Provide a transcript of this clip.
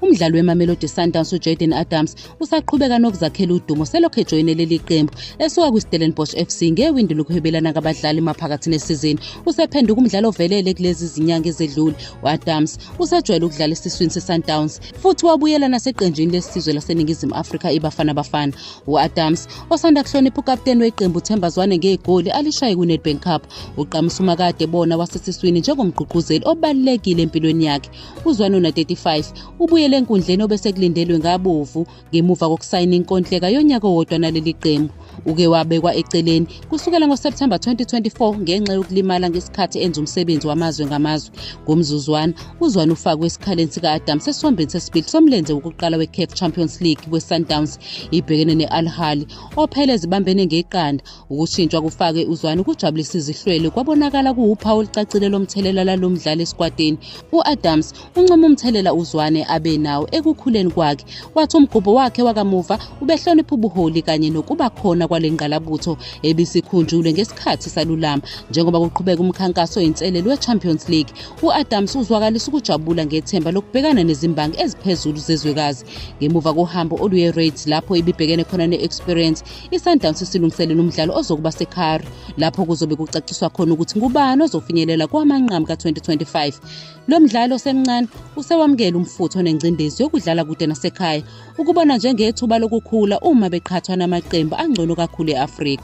Umdlali weMamelodi Sundowns uJaden Adams usaqhubeka nokuzakhela udumo selokhu ejoyine leli qembu esuka kwiStellenbosch FC ngewindi lokuhwebelana kabadlali maphakathi nesizini. Usephenduka umdlali ovelele kulezi zinyanga ezedlule. U-Adams usejwayele ukudlala esiswini seSundowns futhi wabuyela naseqenjini lesizwe laseNingizimu Afrika iBafana Bafana. U-Adams osanda kuhlonipha ukapteni weqembu Themba Zwane ngegoli alishaye kwiNedbank Cup uqamusa umakade bona wasesiswini njengomgqugquzeli obalulekile empilweni yakhe. UZwanuna 35 ubuyele enkundleni obesekulindelwe ngabovu ngemuva kokusayina inkontileka yonyaka owodwa naleli qembu. Uke wabekwa eceleni kusukela ngoSepthemba 2024 ngenxa yokulimala ngesikhathi enza umsebenzi wamazwe ngamazwe. Ngomzuzwana, uZwane ufakwe esikhaleni sika-Adam sesiwombeni sesibili somlenze wokuqala weCAF Champions League kweSundowns ibhekene ne-Al Ahly ophele ezibambene ngeqanda Ukushintshwa kufake uZwane kujabulisa izihlwele kwabonakala kuwuphawu olucacile lomthelela lalo mdlali esikwatini. U-Adams uncoma umthelela uZwane abe nawo ekukhuleni kwakhe, wathi umgubho wakhe wakamuva ubehlonipha ubuholi kanye nokuba khona kwale ngqalabutho ebisikhunjulwe ngesikhathi salulama. Njengoba kuqhubeka umkhankaso oyinselelo we-Champions League, u-Adams uzwakalisa ukujabula ngethemba lokubhekana nezimbangi eziphezulu zezwekazi. Ngemuva kohambo oluye-Raids lapho ibibhekene khona ne-Experience, iSundowns isilungiselela umdlalo ozokuba seCar lapho kuzobe kucaciswa khona ukuthi ngubani ozofinyelela kwamanqamu ka-2025 lo mdlalo osemncane usewamukela umfutho nengcindezi yokudlala kude nasekhaya ukubona njengethuba lokukhula uma beqhathwa namaqembu angcono kakhulu e-afrika